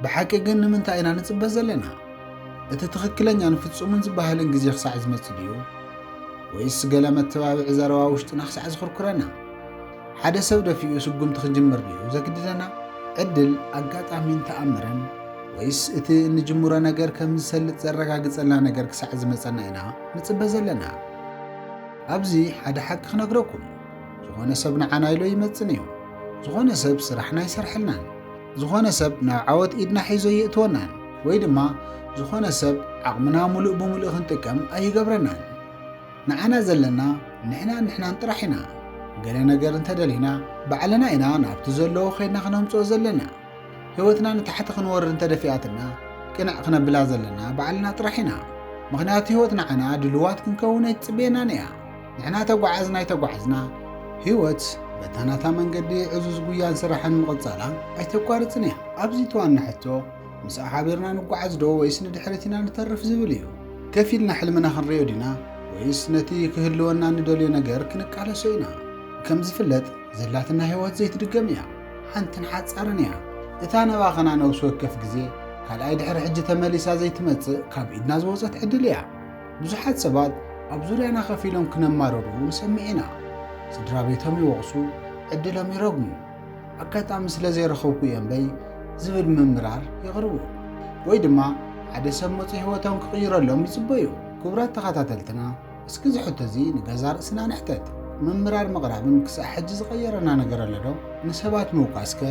ብሓቂ ግን ንምንታይ ኢና ንጽበ ዘለና? እቲ ትኽክለኛን ፍጹምን ዝበሃልን ግዜ ክሳዕ ዝመጽእ ድዩ? ወይስ ገለ መተባብዒ ዘረባ ውሽጥና ክሳዕ ዝኹርኩረና? ሓደ ሰብ ደፊኡ ስጉምቲ ክጅምር ድዩ ዘግድደና? ዕድል፣ ኣጋጣሚን ተኣምርን? ወይስ እቲ እንጅምሮ ነገር ከም ዝሰልጥ ዘረጋግጸልና ነገር ክሳዕ ዝመጸና ኢና ንጽበ ዘለና? ኣብዚ ሓደ ሓቂ ክነግረኩም፣ ዝኾነ ሰብ ንዓና ኢሎ ኣይመጽን እዩ። ዝኾነ ሰብ ስራሕና ኣይሰርሐልናን። ዝኾነ ሰብ ናብ ዓወት ኢድና ሒዙ ኣየእትወናን ወይ ድማ ዝኾነ ሰብ ዓቕምና ሙሉእ ብሙሉእ ክንጥቀም ኣይገብረናን። ንዓና ዘለና ንሕናን ንሕናን ጥራሕ ኢና። ገለ ነገር እንተደሊና ባዕልና ኢና ናብቲ ዘለዎ ከይድና ክነምፅኦ ዘለና። ህይወትና ንታሕቲ ክንወርድ እንተደፊኣትና ቅንዕ ክነብላ ዘለና ባዕልና ጥራሕ ኢና። ምኽንያቱ ህይወት ንዓና ድሉዋት ክንከውን ኣይትፅበየናን እያ። ንሕና ተጓዓዝና ኣይተጓዓዝና ህይወት በታ ናታ መንገዲ ዕዙዝ ጉያን ስራሕን ምቕጻላ ኣይተቋርጽን እያ። ኣብዚ እቲ ዋና ሕቶ ምስኣ ሓቢርና ንጓዓዝ ዶ ወይስ ንድሕሪት ኢና ንተርፍ ዝብል እዩ። ከፍ ኢልና ሕልምና ክንሪኦ ዲና ወይስ ነቲ ክህልወና ንደልዮ ነገር ክንቃለሶ ኢና። ከም ዝፍለጥ ዘላትና ህይወት ዘይትድገም እያ። ሓንትን ሓጻርን እያ። እታ ነባኸና ነብሲ ወከፍ ግዜ ካልኣይ ድሕሪ ሕጂ ተመሊሳ ዘይትመጽእ ካብ ኢድና ዝወጸት ዕድል እያ። ብዙሓት ሰባት ኣብ ዙርያና ከፍ ኢሎም ክነማርሩ ንሰምዕ ኢና። ስድራ ቤቶም ይወቕሱ፣ ዕድሎም ይረግሙ፣ ኣጋጣሚ ስለ ዘይረኸብኩ እየ እምበይ ዝብል ምምራር የቕርቡ። ወይ ድማ ሓደ ሰብ መፂኡ ህይወቶም ክቕይረሎም ይፅበዩ። ክቡራት ተኸታተልትና እስኪ እዚ ሕቶ እዚ ንገዛ ርእስና ንሕተት። ምምራር ምቕራብን ክሳዕ ሕጂ ዝቐየረና ነገር ኣሎ ዶ? ንሰባት ምውቃስ ከ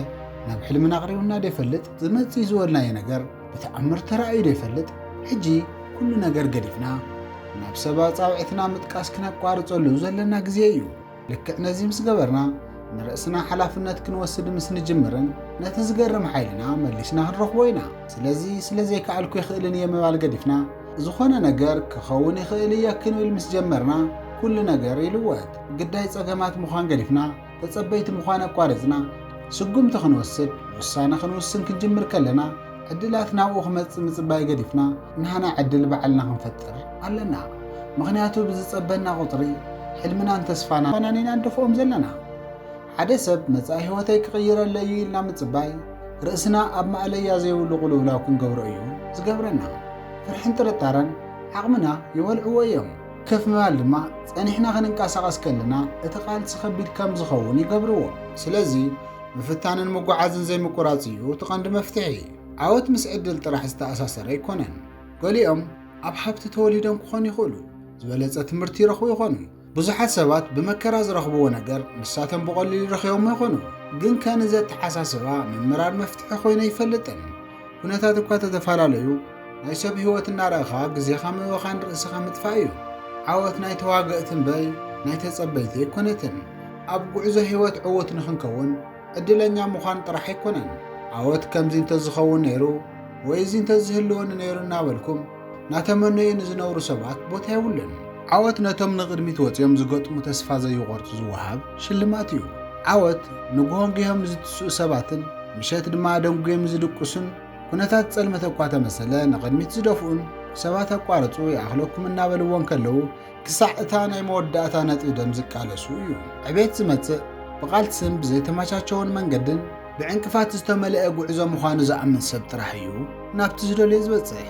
ናብ ሕልምና ኣቕሪቡና ዶ ይፈልጥ? ዝመፅእ እዩ ዝበልናዮ ነገር ብተኣምር ተራእዩ ዶ ይፈልጥ? ሕጂ ኩሉ ነገር ገዲፍና ናብ ሰብ ኣጻብዕትና ምጥቃስ ክነቋርጸሉ ዘለና ግዜ እዩ። ልክዕ ነዚ ምስ ገበርና ንርእስና ሓላፍነት ክንወስድ ምስ ንጅምርን ነቲ ዝገርም ሓይልና መሊስና ክንረኽቦ ኢና። ስለዚ ስለ ዘይከኣልኩ ኣይክእልን እየ ምባል ገዲፍና ዝኾነ ነገር ክኸውን ይኽእል እየ ክንብል ምስ ጀመርና ኩሉ ነገር ይልወጥ። ግዳይ ጸገማት ምዃን ገዲፍና ተጸበይቲ ምዃን ኣቋሪጽና ስጉምቲ ክንወስድ፣ ውሳነ ክንውስን ክንጅምር ከለና፣ ዕድላት ናብኡ ክመጽእ ምጽባይ ገዲፍና ናህና ዕድል ባዕልና ክንፈጥር ኣለና። ምኽንያቱ ብዝጸበና ቁጽሪ ሕልምናን ተስፋናን ኢና ንደፍኦም ዘለና። ሓደ ሰብ መጻኢ ህይወተይ ክቕይረለይ እዩ ኢልና ምጽባይ፣ ርእስና ኣብ ማእለያ ዘይብሉ ቁልውላው ክንገብሮ እዩ ዝገብረና። ፍርሕን ጥርጣረን ዓቕምና ይበልዕዎ እዮም። ከፍ ምባል ድማ ጸኒሕና ክንንቀሳቐስ ከለና እቲ ቃልሲ ከቢድ ከም ዝኸውን ይገብርዎ። ስለዚ ምፍታንን ምጉዓዝን ዘይምቁራጽ እዩ እቲ ቀንዲ መፍትሒ። ዓወት ምስ ዕድል ጥራሕ ዝተኣሳሰረ ኣይኮነን። ገሊኦም ኣብ ሃብቲ ተወሊዶም ክኾኑ ይኽእሉ፣ ዝበለጸ ትምህርቲ ይረኽቡ ይኾኑ፣ ብዙሓት ሰባት ብመከራ ዝረኽብዎ ነገር ንሳቶም ብቐሊሉ ረኺቦሞ ይኾኑ፣ ግን ከ ንዚ ኣተሓሳስባ ምምራር መፍትሒ ኮይኑ ኣይፈልጥን። ኩነታት እኳ ተተፈላለዩ ናይ ሰብ ህይወት እናረእኻ ግዜኻ ምብኻን ርእስኻ ምጥፋእ እዩ። ዓወት ናይ ተዋገእቲ እምበይ ናይ ተጸበይቲ ኣይኮነትን። ኣብ ጉዕዞ ህይወት ዕዉት ንኽንከውን ዕድለኛ ምዃን ጥራሕ ኣይኮነን። ዓወት ከምዚ እንተዝኸውን ነይሩ ወይ እዚ እንተዝህልወኒ ነይሩ እናበልኩም ናተመነዩ ንዝነብሩ ሰባት ቦታ የብሉን። ዓወት ነቶም ንቕድሚት ወጺኦም ዝገጥሙ ተስፋ ዘይቖርጹ ዝወሃብ ሽልማት እዩ። ዓወት ንግሆ ጊሆም ንዝትስኡ ሰባትን ምሸት ድማ ኣደንጉዮም ንዝድቅሱን ኩነታት ጸልመት እኳ ተመሰለ ንቕድሚት ዝደፍኡን ሰባት ኣቋርጹ ይኣኽለኩም እናበልዎ እንከለዉ ክሳዕ እታ ናይ መወዳእታ ነጥቢ ደም ዝቃለሱ እዮም። ዕቤት ዝመጽእ ብቓልስን ብዘይተመቻቸወን መንገድን ብዕንቅፋት ዝተመልአ ጉዕዞ ምዃኑ ዝኣምን ሰብ ጥራሕ እዩ ናብቲ ዝደልዮ ዝበጽሕ።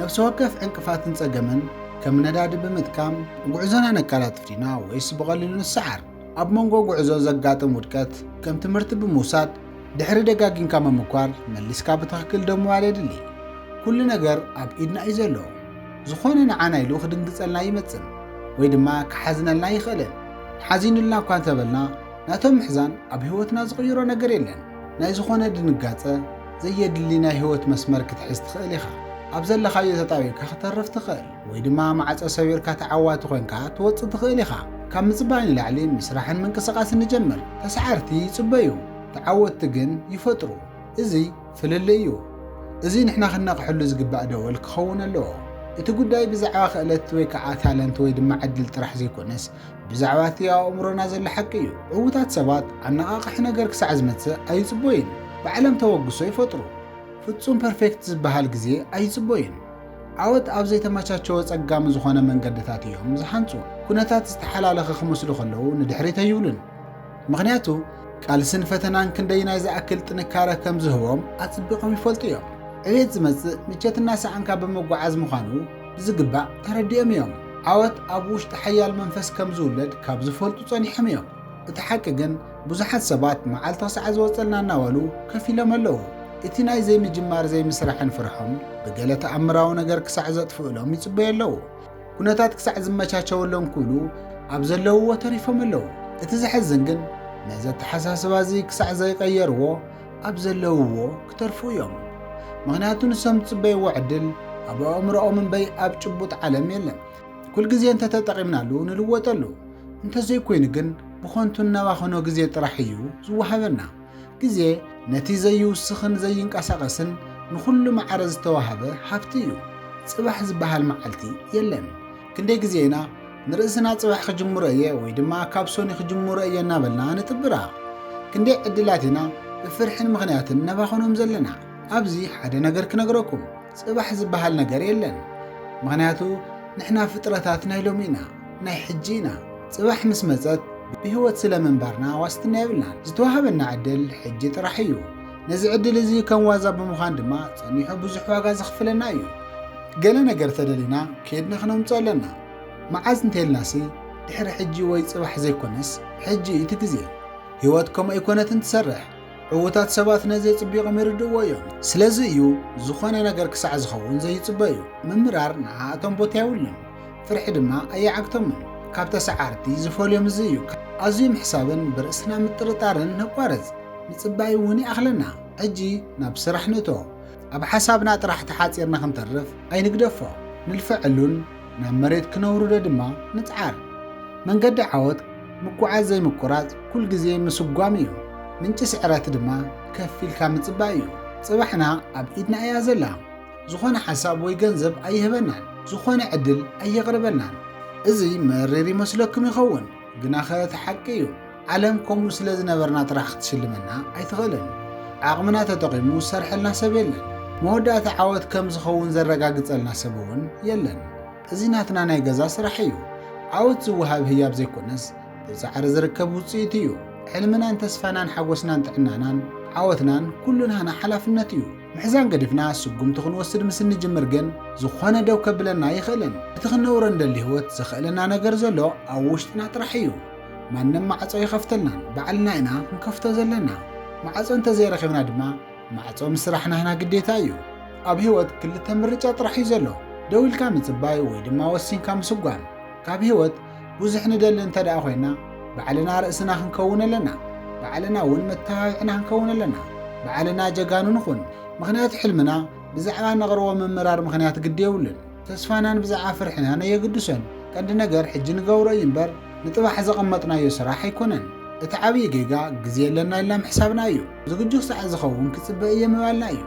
ነፍሲ ወከፍ ዕንቅፋትን ጸገምን ከም ነዳዲ ብምጥቃም ጉዕዞና ነቀላጥፍ ዲና ወይስ ብቐሊሉ ንሰዓር? ኣብ መንጎ ጉዕዞ ዘጋጥም ውድቀት ከም ትምህርቲ ብምውሳድ ድሕሪ ደጋጊምካ ምምኳር መሊስካ ብትኽክል ደው ምባል የድሊ። ኩሉ ነገር ኣብ ኢድና እዩ ዘሎ። ዝኾነ ንዓና ኢሉ ክድንግጸልና ይመጽን ወይ ድማ ክሓዝነልና ይኽእልን። ሓዚኑልና እኳ እንተበልና ናቶም ምሕዛን ኣብ ህይወትና ዝቕይሮ ነገር የለን። ናይ ዝኾነ ድንጋጸ ዘየድሊ ናይ ህይወት መስመር ክትሕዝ ትኽእል ኢኻ። ኣብ ዘለኻዮ ተጣቢብካ ክተርፍ ትኽእል ወይ ድማ ማዕጾ ሰቢርካ ተዓዋቲ ኮንካ ትወጽእ ትኽእል ኢኻ። ካብ ምጽባይ ንላዕሊ ምስራሕን ምንቅስቓስን ንጀምር። ተሳዓርቲ ይጽበዩ ተዓወትቲ ግን ይፈጥሩ። እዚ ፍልልይ እዩ። እዚ ንሕና ክንነቕሐሉ ዝግባእ ደወል ክኸውን ኣለዎ። እቲ ጉዳይ ብዛዕባ ክእለት ወይ ከዓ ታለንት ወይ ድማ ዕድል ጥራሕ ዘይኮነስ ብዛዕባ እቲ ኣብ ኣእምሮና ዘሎ ሓቂ እዩ። ዕውታት ሰባት ኣነቓቓሒ ነገር ክሳዕ ዝመፅእ ኣይፅቦዩን። ባዕሎም ተበግሶ ይፈጥሩ። ፍፁም ፐርፌክት ዝበሃል ግዜ ኣይፅቦዩን። ዓወት ኣብ ዘይተመቻቸወ ፀጋሚ ዝኾነ መንገድታት እዮም ዝሃንፁ። ኩነታት ዝተሓላለኸ ክመስሉ ከለዉ ንድሕሪት ኣይብሉን። ምኽንያቱ ቃልስን ፈተናን ክንደይናይ ዝኣክል ጥንካረ ከም ዝህቦም ኣጽቢቖም ይፈልጡ እዮም። ዕቤት ዝመጽእ ምቸት እናሰኣንካ ብምጉዓዝ ምዃኑ ብዝግባእ ተረዲኦም እዮም። ዓወት ኣብ ውሽጢ ሓያል መንፈስ ከም ዝውለድ ካብ ዝፈልጡ ጸኒሖም እዮም። እቲ ሓቂ ግን ብዙሓት ሰባት መዓልቶ ሳዕ ዝወጸልና እናበሉ ከፍ ኢሎም ኣለዉ። እቲ ናይ ዘይምጅማር ዘይምስራሕን ፍርሖም ብገለ ተኣምራዊ ነገር ክሳዕ ዘጥፍእሎም ይጽበዩ ኣለዉ። ኩነታት ክሳዕ ዝመቻቸወሎም ክብሉ ኣብ ዘለውዎ ተሪፎም ኣለዉ። እቲ ዘሕዝን ግን ነዚ ኣተሓሳስባ እዚ ክሳዕ ዘይቀየርዎ ኣብ ዘለውዎ ክተርፉ እዮም። ምክንያቱ ንሶም ዝጽበይዎ ዕድል ኣብ ኣእምሮኦም እምበይ ኣብ ጭቡጥ ዓለም የለን። ኩል ግዜ እንተተጠቒምናሉ ንልወጠሉ፣ እንተዘይኮይኑ ግን ብኾንቱ እነባኸኖ ግዜ ጥራሕ እዩ ዝወሃበና። ግዜ ነቲ ዘይውስኽን ዘይንቀሳቐስን ንኹሉ ማዕረ ዝተዋህበ ሃብቲ እዩ። ጽባሕ ዝበሃል መዓልቲ የለን። ክንደይ ግዜ ኢና ንርእስና ጽባሕ ክጅምሮ እየ ወይ ድማ ካብ ሶኒ ክጅምሮ እየ እናበልና ንጥብራ። ክንደይ ዕድላት ኢና ብፍርሕን ምኽንያትን ነባኽኖም ዘለና። ኣብዚ ሓደ ነገር ክነግረኩም። ጽባሕ ዝበሃል ነገር የለን ምኽንያቱ ንሕና ፍጥረታት ናይ ሎሚ ኢና ናይ ሕጂ ኢና ጽባሕ ምስ መጸት ብህይወት ስለ ምንባርና ዋስትና የብልናን ዝተዋህበና ዕድል ሕጂ ጥራሕ እዩ ነዚ ዕድል እዚ ከም ዋዛ ብምዃን ድማ ጸኒሑ ብዙሕ ዋጋ ዘኽፍለና እዩ ገለ ነገር ተደሊና ከድና ክነምጾ ኣለና መዓዝ እንተልናሲ ድሕሪ ሕጂ ወይ ጽባሕ ዘይኮነስ ሕጂ እቲ ግዜ ህይወት ከምኡ ኣይኮነትን ትሰርሕ ዕዉታት ሰባት ነዚ ኣጽቢቖም ይርድእዎ እዮም። ስለዚ እዩ ዝኾነ ነገር ክሳዕ ዝኸውን ዘይጽበዩ። ምምራር ንዓኣቶም ቦታ የብሉን፣ ፍርሒ ድማ ኣይዓግቶምን። ካብ ተሰዓርቲ ዝፈልዮም እዚ እዩ። ኣዝዩ ምሕሳብን ብርእስና ምጥርጣርን ነቋርጽ፣ ምጽባይ እውን ይኣኽለና። ሕጂ ናብ ስራሕ ንእቶ። ኣብ ሓሳብና ጥራሕ ተሓጺርና ክንተርፍ ኣይንግደፎ፣ ንልፈዐሉን። ናብ መሬት ክነውርዶ ድማ ንጽዓር። መንገዲ ዓወት ምጉዓዝ ዘይምቁራጽ ኩል ግዜ ምስጓም እዩ። ምንጪ ስዕረት ድማ ከፍ ኢልካ ምጽባይ እዩ። ጽባሕና ኣብ ኢድና እያ ዘላ። ዝኾነ ሓሳብ ወይ ገንዘብ ኣይህበናን። ዝኾነ ዕድል ኣየቕርበልናን። እዚ መሪር ይመስለኩም ይኸውን ግናኸ እቲ ሓቂ እዩ። ዓለም ከምኡ ስለ ዝነበርና ጥራሕ ክትሽልመና ኣይትኽእልን። ዓቕምና ተጠቒሙ ዝሰርሐልና ሰብ የለን። መወዳእታ ዓወት ከም ዝኸውን ዘረጋግጸልና ሰብ እውን የለን። እዚ ናትና ናይ ገዛ ስራሕ እዩ። ዓወት ዝወሃብ ህያብ ዘይኮነስ ብጻዕሪ ዝርከብ ውጽኢት እዩ። ሕልምናን ተስፋናን ሓጎስናን ጥዕናናን ዓወትናን ኩሉ ናህና ሓላፍነት እዩ። ምሕዛን ገዲፍና ስጉምቲ ክንወስድ ምስ እንጅምር ግን ዝኾነ ደው ከብለና ኣይኽእልን። እቲ ክንነብሮ እንደሊ ህይወት ዘኽእለና ነገር ዘሎ ኣብ ውሽጥና ጥራሕ እዩ። ማንም ማዕጾ ኣይኸፍተልናን ባዕልና ኢና ክንከፍቶ ዘለና ማዕጾ እንተዘይረኺብና ድማ ማዕጾ ምስራሕ ናህና ግዴታ እዩ ኣብ ህይወት ክልተ ምርጫ ጥራሕ እዩ ዘሎ ደው ኢልካ ምጽባይ ወይ ድማ ወሲንካ ምስጓም ካብ ህይወት ብዙሕ ንደሊ እንተ ደኣ ኮይና ባዕልና ርእስና ክንከውን ኣለና ባዕልና እውን መተባብዕና ክንከውን ኣለና ባዕልና ጀጋኑ ንኹን ምክንያቱ ሕልምና ብዛዕባ ነቕርቦ ምምራር ምክንያት ግዲ የብሉን ተስፋናን ብዛዕባ ፍርሕናን ኣየግድሶን። ቀንዲ ነገር ሕጂ ንገብሮ እዩ እምበር ንጥባሕ ዘቐመጥናዮ ስራሕ ኣይኮነን። እቲ ዓብዪ ጌጋ ግዜ የለና ኢልና ምሕሳብና እዩ። ዝግጁ ክሳዕ ዝኸውን ክጽበ እየ ምባልና እዩ።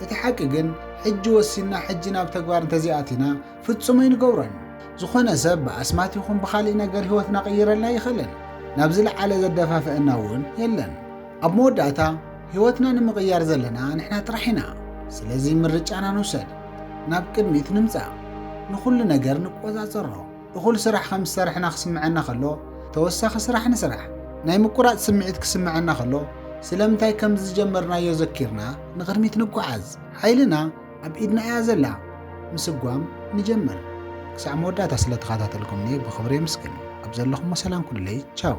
እቲ ሓቂ ግን ሕጂ ወሲንና ሕጂ ናብ ተግባር እንተዘይኣቲና ፍጹም ኣይንገብሮን። ዝኾነ ሰብ ብኣስማት ይኹን ብኻሊእ ነገር ህይወትና ክቕይረልና ኣይኽእልን። ናብ ዝለዓለ ዘደፋፍኣና እውን የለን። ኣብ መወዳእታ ህይወትና ንምቕያር ዘለና ንሕና ጥራሕ ኢና። ስለዚ ምርጫና ንውሰድ፣ ናብ ቅድሚት ንምጻእ፣ ንኹሉ ነገር ንቆጻጸሮ። እኹል ስራሕ ከም ዝሰርሕና ክስምዐና ከሎ ተወሳኺ ስራሕ ንስራሕ። ናይ ምቁራጽ ስምዒት ክስምዐና ከሎ ስለምንታይ ከም ዝጀመርናዮ ዘኪርና ንቕድሚት ንጓዓዝ። ሓይልና ኣብ ኢድና እያ ዘላ። ምስጓም ንጀምር። ክሳዕ መወዳእታ ስለ ተኻታተልኩምኒ ብኽብሪ የምስግን። ኣብ ዘለኹሞ ሰላም ኩኑለይ። ቻው።